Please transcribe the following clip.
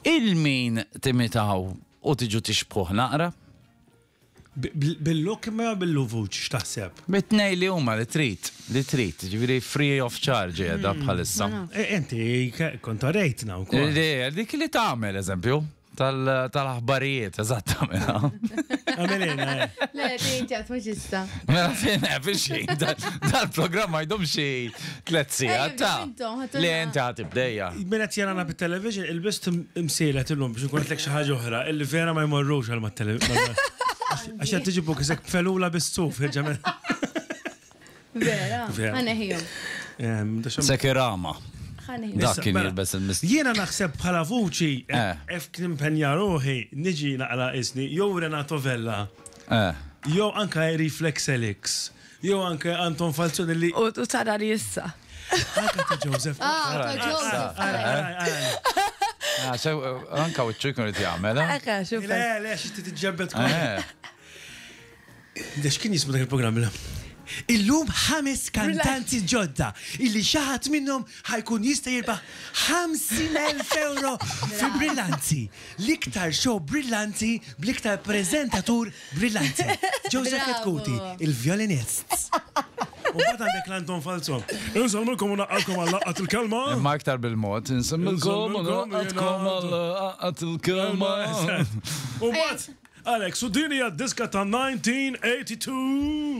'il min timitaw u tiġu tixbħuh naqra? Bil-lokma jew bil-luvuċ x'taħseb? Mit-tnejn li huma li trid, li trid, jiġifieri free of charge qiegħda bħalissa. Inti kont orejtna wkoll. Le, dik li tagħmel eżempju tal-aħbarijiet, eżatt tagħmilha. Għamilina. Le, inti għad mhux issa. Mela fejn hemm xejn, dal-programm ma jdum xejn. tlet sigħat ta' li inti ħati bdejja. Mela qed jarana bit-television il-bist imsielet illum biex nkun qed xi ħaġa oħra illi vera ma jmorrux għal mat-television. Għax qed tiġibu kisek felula bis-suf ġemel. Vera, ħaneħijom. Sekirama. Dak kien jilbes il-mist. Jiena naħseb bħala vuċi, ef kien impenja ruħi, niġi naqra isni, jew Renato Vella, jew anka Reflex Elix. Jew anke Anton Falzone li. U tara li issa. Anke ta' Joseph. Ah, ta' Joseph. Ara, ara, ara. Ah, so, anka u ċuj kunu t-jgħamel, eh? Eka, xuf. Le, le, xti t-ġebbet kunu. Dex kien jismu dak il-programm, la? Illum ħames kantanti ġodda illi xaħat minnhom ħajkun jista' jirbaħ 50,000 euro fi brillanti. L-iktar show brillanti bl-iktar prezentatur Brillanti. Joseph Kitkuti, il-vjolinist. U mbagħad għandek l-Anton Falzon. Insellmilkom u naqgħalkom għal laqgħat il-kelma. Imma aktar bil-mod. Insellmilkom u naqgħalkom għal laqgħat il-kelma. U mbagħad Alex, u din hija d-diska ta' 1982.